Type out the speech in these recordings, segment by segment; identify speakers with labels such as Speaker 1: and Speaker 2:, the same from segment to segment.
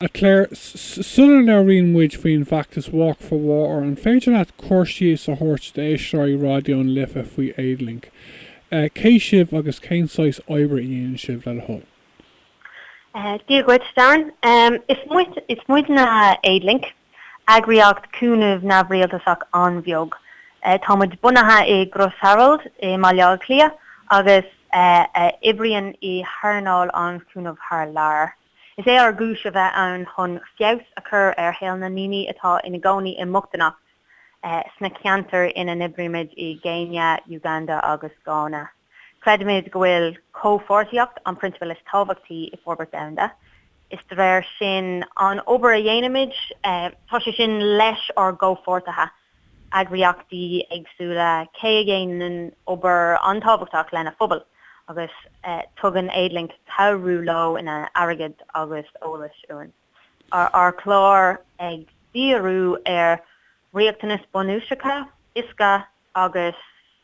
Speaker 1: A Chláir, sula labhraíonn muid faoin bhfeachtas Walk for Water, an féidir leat cur síos a thabhairt d'éisteoirí Raidió na Life faoi Aidlink? Cé sibh agus cén saghas oibre a dhéanann sibh, le do thoil? Dia dhuit, Darren. Is muidne Aidlink, eagraíocht cúnaimh neamhrialtasach an-bheag. Tá muid bunaithe i gCrois Araild i mBaile Átha Cliath agus oibríonn muid i hearnáil an chúnaimh thar lear. Is é ár gcúis a bheith ann chun feabhas a chur ar shaol na ndaoine atá ina gcónaí i mbochtanacht sna ceantair ina n-oibrímid i gCéinia, Uganda agus Gána. Creidimid go bhfuil comhpháirtíocht an prionsabal is tábhachtaí i forbairt domhanda. Is de réir sin an obair a dhéanaimid. Tá sé sin leis ár gcomhpháirtithe eagraíochtaí éagsúla cé a dhéanann obair an-tábhachtach lena phobail agus tugann Aidlink cabhrú leo ina airgead agus eolas uainn. Tá ár gclár ag díriú ar riachtanais bunúsacha, uisce agus.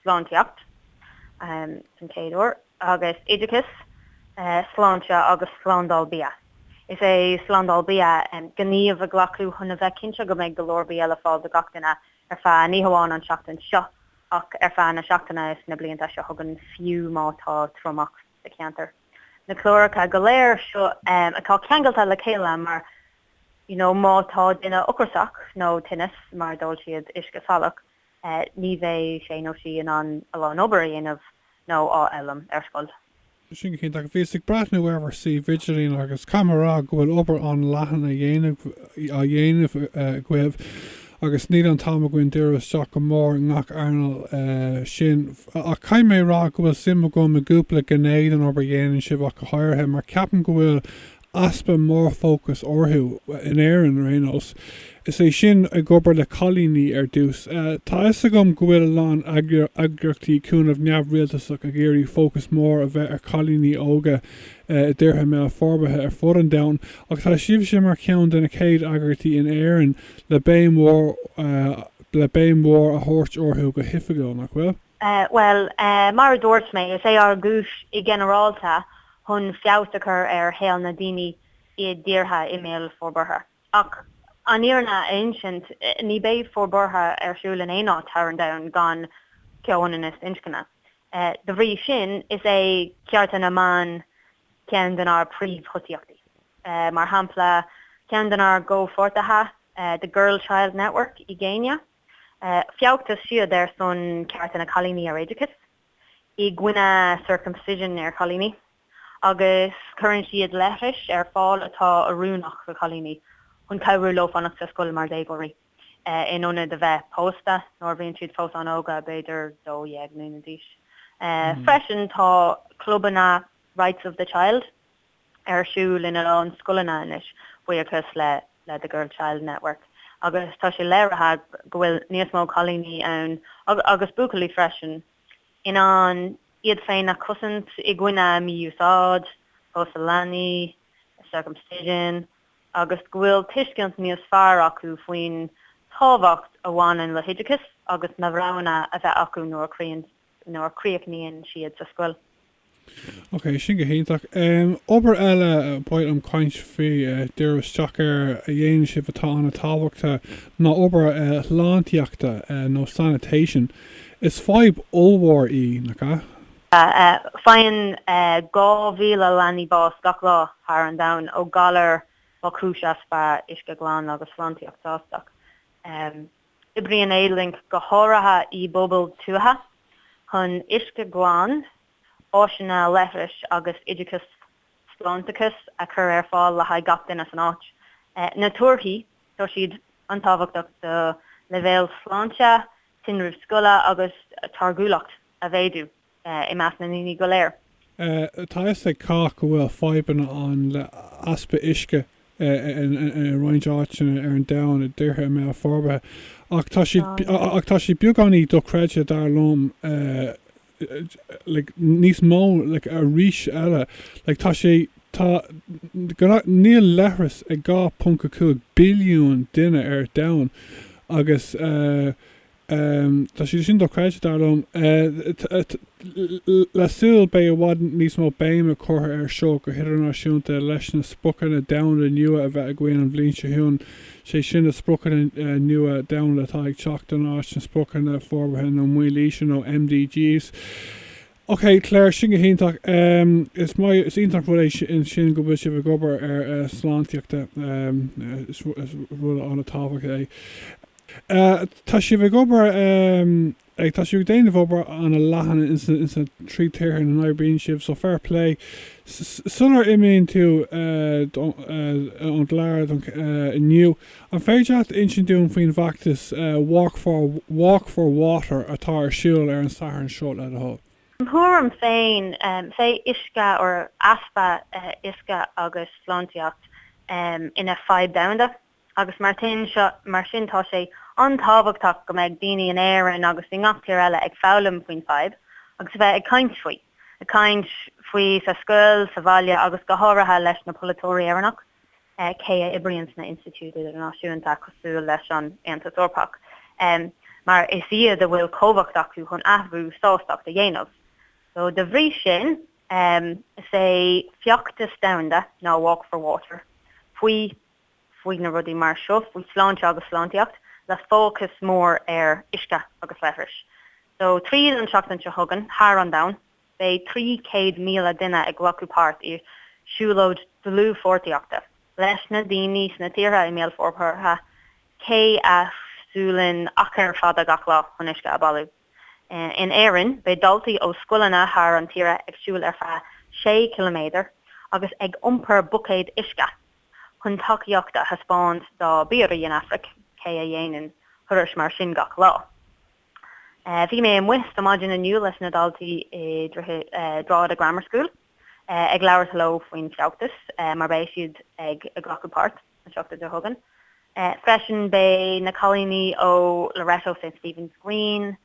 Speaker 1: sláintíocht an chéad uair agus oideachas, sláinte agus slándáil bia. Is é slándáil bia gníomh a ghlacadh chun a bheith cinnte go mbeidh go leor bia le fáil do gach duine ar feadh ní hamháin an tseachtain seo ach ar feadh na seachtaine is na blianta seo chugainn fiú má tá triomach sa cheantar. Na cláracha go léir seo atá ceangailte le chéile mar you know má tá duine ocrasach nó tinneas mar d'ól siad uisce salach ní bheidh sé nó sí in ann a lán obair a dhéanamh nó á fhoghlaim ar scoil. Sin go cinnte. Ach bhíos ag breathnú ar bhur suíomh idirlín agus caithfidh mé a rá go bhfuil obair an-leathan á dhéanamh, á dhéanamh agaibh agus níl an t-am againn díriú isteach go mór i ngach earnáil. Sin, ach caithfidh mé a rá go bhfuil suim agam i gcúpla gné den obair a dhéanann sibh ach go háirithe mar ceapaim go bhfuil easpa mórfhócas orthu in Éirinn ar aon nós, is é sin ag obair le cailíní ar dtús. Tá a fhios agam go bhfuil a lán eagraíochtaí cúnaimh neamhrialtasach ag iarraidh fócas mór a bheith ar chailíní óga i dtíortha i mbéal forbartha ar fud an domhain ach tá sibhse mar cheann de na chéad eagraíochtaí in Éirinn le béim mhór, le béim mhór a thabhairt orthu go hoifigiúil, nach bhfuil? Bhuel, mar a dúirt mé, is é ár gcúis i ginearálta chun feabhas a chur ar shaol na ndaoine i dtíortha i mbéal forbartha. Ach an fhírinne a insint, ní beidh forbartha ar siúl in aon áit thar an domhan gan comhionannas inscne. Dá bhrí sin, is é cearta na mban ceann den ár bpríomhthosaíochtaí. Mar shampla, ceann den ár gcomhpháirtithe, The Girl Child Network i gCéinia, feachtas siad ar son cearta na cailíní ar oideachas. i gcoinne Circumcision ar chailíní agus cuireann siad leithris ar fáil atá oiriúnach do chailíní chun cabhrú leo fanacht sa scoil mar dhéagóirí, in ionad a bheith pósta nuair a bhíonn siad fós an-óg, b'fhéidir dó dhéag mbliana d'aois. Freisin tá clubanna Rights of the Child, ar siúl in a lán scoileanna anois buíochas le The Girl Child Network agus tá sé léirithe go bhfuil níos mó cailíní ann, agus buachaillí freisin, in ann iad féin a chosaint i gcoinne mí-úsáid, pósadh leanaí, circumcision, agus go bhfuil tuiscint níos fearr acu faoin tábhacht a bhaineann le hoideachas agus na roghanna a bheidh acu nuair a nuair a chríochnaíonn siad sa scoil. Ok, sin go hiontach. Obair eile ba mhaith liom caint faoi díriú isteach air a dhéanann sibh atá an-tábhachtach ná obair shláintíochta nó sanitation. Is fadhb ollmhór í, nach ea? Faigheann 2,000 leanaí bás gach lá thar an domhan ó ghalair mar chúis easpa uisce glan agus sláintíocht shásta. Oibríonn Aidlink go háirithe i bpobail tuaithe chun uisce glan, áiseanna leithris agus oideachas sláinteachais a chur ar fáil le haghaidh gach duine san áit. Na torthaí, tá siad an-tábhachtach do leibhéal sláinte, tinreamh scoile agus táirgiúlacht a mhéadú. i measc na ndaoine go léir. Tá a fhios ag cách go bhfuil fadhbanna ann le easpa uisce i roinnt áiteanna ar an domhan i dtíortha i mbéal forbartha, ach tá sé, ach tá sé beagáinín dochreidte dar liom, like, níos mó, like, arís eile, like, tá sé, tá, gna, níl leithreas ag 2.5 billiún duine ar domhan agus, Um, tá sé sin dochreidte, dar liom. Tá súil beidh i bhfad níos mó béime curtha air seo go hidirnáisiúnta leis na spriocanna domhanda nua a bheidh againn an bhliain seo chugainn, sé sin na spriocanna nua domhanda atá ag teacht in áit na spriocanna forbartha na mílaoise nó MDGs. Ok Clare, sin go hiontach. Is maith, is iontach rud é sin go bhfuil sibh ag obair ar sláintíochta. Is rud ana tábhachtach é. Tá sibh ag obair ag, tá sibh ag déanamh obair ana leathan in san trí tíortha ina n-oibríonn sibh so fair play. Sular imíonn tú ón gclár inniu, An féidir leat insint dúinn faoin bhfeachtas 'Walk for Water' atá ar siúl ar an Satharn seo le do thoil? I mo thuairim féin, is é uisce, or easpa uisce agus sláintíocht, ina fhadhb domhanda agus mar sin, mar sin tá sé an-tábhachtach go mbeidh daoine in Éirinn agus i ngach tír eile ag foghlaim faoin fadhb agus a bheith ag caint faoi, ag caint faoi sa scoil, sa bhaile agus go háirithe leis na polaiteoirí Éireannach. cé a oibríonn sna institiúid idirnáisiúinta cosúil leis an Aontas Eorpach, mar is iad a bhfuil cumhacht acu chun athrú sástacht a dhéanamh. So, dá bhrí sin, is é feachtas domhanda ná Walk for Water, faoi faoi na rudaí mar seo, faoi sláinte agus sláintíocht, le fócas mór ar uisce agus leithris. So, tríd an seachtain seo chugainn, thar an domhain, Beidh 300,000 duine ag glacadh páirt i siúlóid dlúthpháirtíochta leis na daoine sna tíortha i mbéal forbartha, cé a shiúlann achar fada gach lá chun uisce a bhailiú. In Éirinn, beidh daltaí ó scoileanna thar an tíre ag siúl ar feadh sé ciliméadar agus ag iompar buicéad uisce chun tacaíocht a thaispeáint dá bpiaraí in Afraic, cé a dhéanann thurais mar sin gach lá. Bhí mé amuigh ar maidin inniu leis na daltaí i Drogheda Grammar School ag labhairt leo faoin feachtas mar beidh siad ag glacadh páirt an seachtain seo chugainn. Freisin beidh na cailíní ó Loreto St Stephen's Green,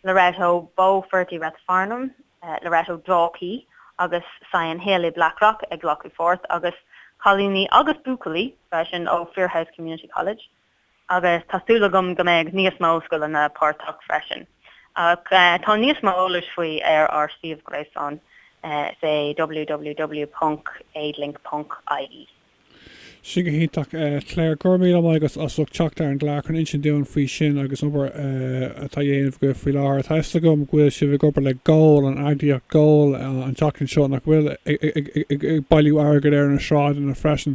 Speaker 1: Loreto Beaufort i Rathfarnham, Loreto Dalkey agus Sion Hill i Blackrock ag glacadh pháirt agus cailíní agus buachaillí freisin ó Firhouse Community College, agus tá súil agam go mbeidh níos mó scoileanna páirteach freisin ach tá níos mó eolas faoi ar ár suíomh gréasáin is é www.aidlink.ie. Sin go hiontach. Claire, go raibh míle maith agat as ucht teacht ar an gclár chun insint dúinn faoi sin agus an obair atá á dhéanamh agaibh faoi láthair. Tá a fhios agam go bhfuil sibh ag obair le GOAL, an eagraíocht GOAL, an tseachtain seo, nach bhfuil, ag bailiú airgead ar na sráideanna freisin.